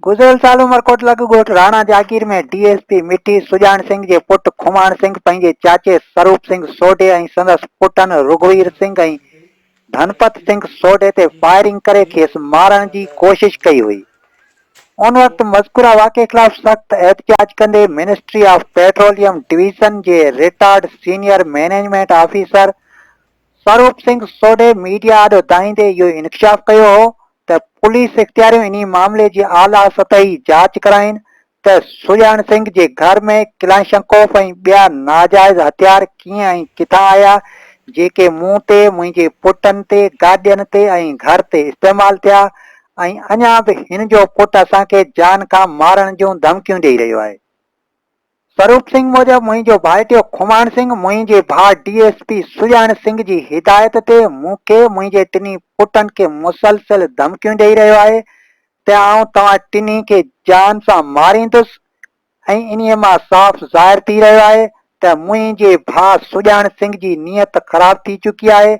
گذريل سال عمرڪوٽ لڳ ڳوٺ Rana Jagir ۾ D S P Mithi Sajan Singh جي پٽ کماڻ سنگهه پنهنجي چاچي سروپ سنگهه سوڍي ۽ سندس پٽن رگهوير سنگهه ۽ ڌنپت سنگهه سوڍي تي فائرنگ ڪري کيس مارڻ جي ڪوشش ڪئي هئي ان وقت مذڪوره واقعي خلاف سخت احتجاج ڪندي منسٽري آف پيٽروليم ڊويزن جي retired senior management officer Saroop Singh Sodhi media آڏو دانهيندي اهو انڪشاف ڪيو هو ته پوليس اختياريون انهي معاملي جي اعليٰ سطحي جاچ ڪرائين ته سڄاڻ سنگهه جي گهر ۾ ڪلاشنڪوف ۽ ٻيا ناجائز هٿيار ڪيئن ۽ ڪٿان آيا جيڪي مون تي، منهنجي پٽن تي، گاڏين تي ۽ گهر تي استعمال ٿيا ۽ اڃا به هن جو پٽ اسان کي جان کان مارڻ جون ڌمڪيون ڏئي رهيو آهي. سروپ سنگهه موجب منهنجو ڀائٽيو کماڻ سنگهه منهنجي ڀاء D S P Sajan Singh جي هدايت تي مون کي منهنجي ٽنهي پٽن کي مسلسل ڌمڪيون ڏئي رهيو آهي ته آئون توهان ٽنهي کي جان سان ماريندس ۽ انهي مان صاف ظاهر ٿي رهيو آهي ته منهنجي ڀاء سڄاڻ سنگهه جي نيت خراب ٿي چڪي آهي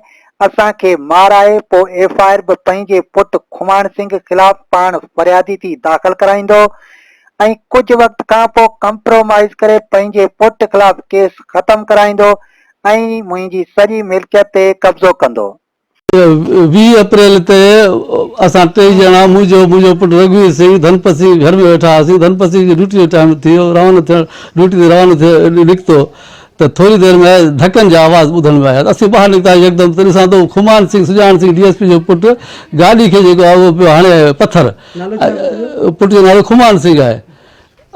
اسان کي مارائي پو ايف آئر به پنهنجي پٽ کماڻ سنگهه خلاف پاڻ فريادي ٿي داخل ڪرائيندو ۽ ڪجهه وقت کان پوء ڪمپرومائيز ڪري پنهنجي پٽ خلاف ڪيس ختم ڪرائيندو ۽ منهنجي سڄي ملڪيت تي قبضو ڪندو. ويهه اپريل تي اسان ٽئي ڄڻا، مون جو، منهنجو پٽ رگهوير سنگهه، ڌنپت سنگهه جي گهر ۾ ويٺا هئاسين. ڌنپت سنگهه جو ڊيوٽي جو ٽائيم ٿي ويو، روانو ٿيڻ، ڊيوٽي تي روانو ٿي نڪتو ته ٿوري دير ۾ ڌڪن جا آواز ٻڌڻ ۾ آيا ته اسين ٻاهر نڪتاسين، يڪدم ته ڏسان ٿو کمان Singh, Sajan Singh, D S P جو پٽ، گاڏي کي جيڪو آهي اهو پيو هڻي آيو آهي پٿر. پٽ جو نالو خمان سنگهه آهي.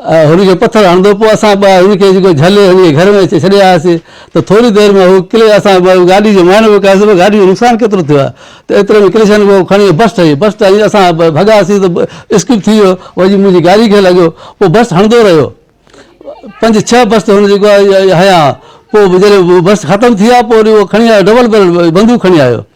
هن کي پٿر هڻندو پوء اسان ٻئا هن کي جيڪو جهلي هن کي گهر ۾ اچي ڇڏي آياسين ته ٿوري دير ۾ هو ڪلي اسان ٻئا گاڏي جو معائنو به ڪياسين پر گاڏي جو نقصان کيترو ٿيو آهي ته ايتري ۾ ڪرشن اهو کڻي بس ٺهي بس ٺهي اسان ڀڳاسين ته اسڪڪ ٿي ويو وڃي منهنجي گاڏي کي لڳيو پوء بس هڻندو رهيو پنج ڇهه بس هن جيڪو آهي هنيا پوء جڏهن بس ختم ٿي آهي پوء وري اهو کڻي آيو ڊبل بيرل بندوق کڻي آيو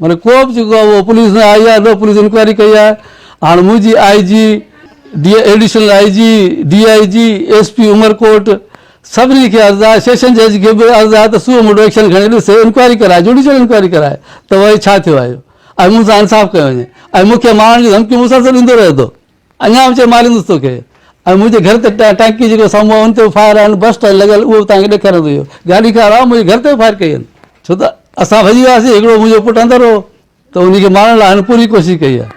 معنيٰ ڪو به جيڪو آهي اهو پوليس نه آئي آهي نه پوليس انڪوائري ڪئي آهي هاڻ منهنجي I G D additional I G D I G S P Umerkot سڀني کي عرض آهي سيشن جج کي به عرض آهي ته سوء موٽو ايڪشن کڻي ڏسي انڪوائري ڪرائي جوڊيشل انڪوائري ڪرائي ته وائي ڇا ٿيو آهي ۽ مون سان انصاف ڪيو وڃي ۽ مون کي مارڻ جون ڌمڪيون مسلسل ڏيندو رهي ٿو اڃا به چئي ماريندس توکي ۽ منهنجي گهر تي ٽانڪي جيڪو سامهون آهي ان تي به فائر آهن بسٽ آهن لڳل اهو به توهان کي ڏيکاريان ٿو اهو گاڏي کان علاوه منهنجي گهر تي به فائر ڪئي آهن ڇو ته اسان ڀڄي وياسين هڪڙو منهنجو پٽ اندر هو ته ان کي مارڻ لاء هن پوري ڪوشش ڪئي آهي